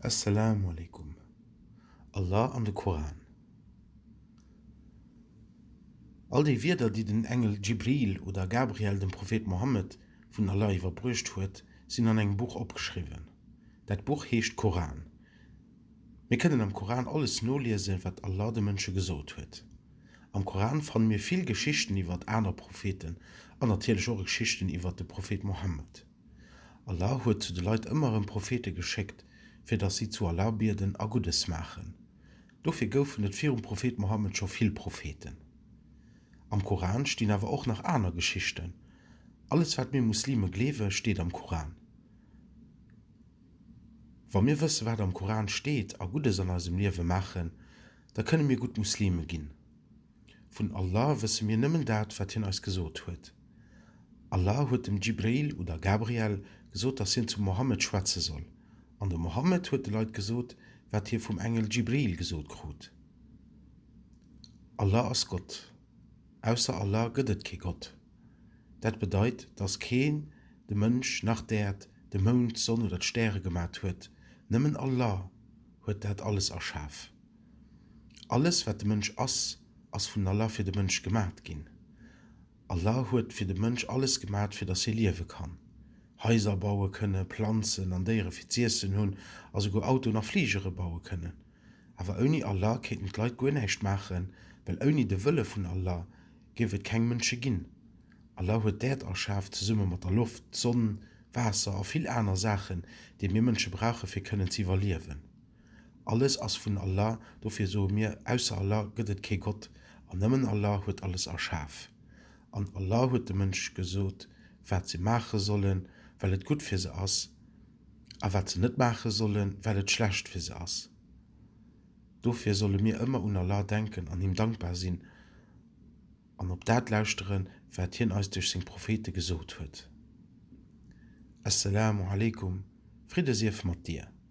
As-Salaam Alaikum, Allah an de Koran. All déi Wierder, déi den Engel Djibril oder Gabriel dem Prophet Mohammed vun Allah iwwerbruecht huet, sinn an engem Buch opgeschriwwen. Dat Buch heescht Koran. Mir kënnen am Koran alles noliesen, wat Allah de Mënsche gesot huet. Am Koran fanne mir vill Geschichten iwwert aner Propheten an natierlech och Geschichten iwwert de Prophet Mohammed. Allah huet zu de Leit ëmmer erëm Prophete geschéckt, fir datt si zu Allah bieden a Guddes maachen. Dofir goufen et virum Prophet Mohammed scho vill Propheten. Am Koran stinn awer och nach aner Geschichten. Alles wat mir Muslime gleewe steet am Koran. Wa mir wësse wat am Koran steet a Guddes an eisem Liewe maachen, da kënne mir gutt Muslime ginn. Vun Allah wësse mir nëmmen dat, wat Hien eis gesot huet. Allah huet dem Djibril oder Gabriel gesot, dass hien zum Mohammed schwätze soll, an de Mohammed huet de Leit gesot, wat hie vum Engel Djibril gesot krut. Allah ass Gott. Ausser Allah gëtt et kee Gott. Dat bedeit, dass keen de Mënsch, nach d'Äerd, de Mound, d'Sonn oder d'Stäre gemat huet. Nëmmen Allah huet dat alles erschaf. Alles wat de Mënsch ass, ass vun Allah fir de Mënsch gemat ginn. Allah huet fir de Mënsch alles gemat fir dass hie liewe kann. Haiser baue kënne, Planzen an Déiere fir z'iessen hunn a souguer Autoen a Fligere baue kënnen. Awer ouni Allah kéinten d'Leit guer näischt maachen, well ouni de Wëlle vun Allah géif et keng Mënsche ginn. Allah huet d'Äerd erschaf zesumme mat der Loft, d'Sonn, Waasser a vill aner Saachen, déi mir Mënsche brauche fir kënnen z'iwwerliewen. Alles ass vun Allah, dofir soe mir, Ausser Allah gëtt et kee Gott, an nëmmen Allah huet alles erschaf. An Allah huet de Mënsch gesot, wat se maache sollen, well et gutt fir se ass, a wat se net maache sollen, well et schlecht fir se ass. Dofir solle mir ëmmer un Allah denken an him dankbar sinn an op dat lauschteren, wat hien eis duerch seng Prophete gesot huet. As-Salaamu Alaikum, Fridde sief mat dir!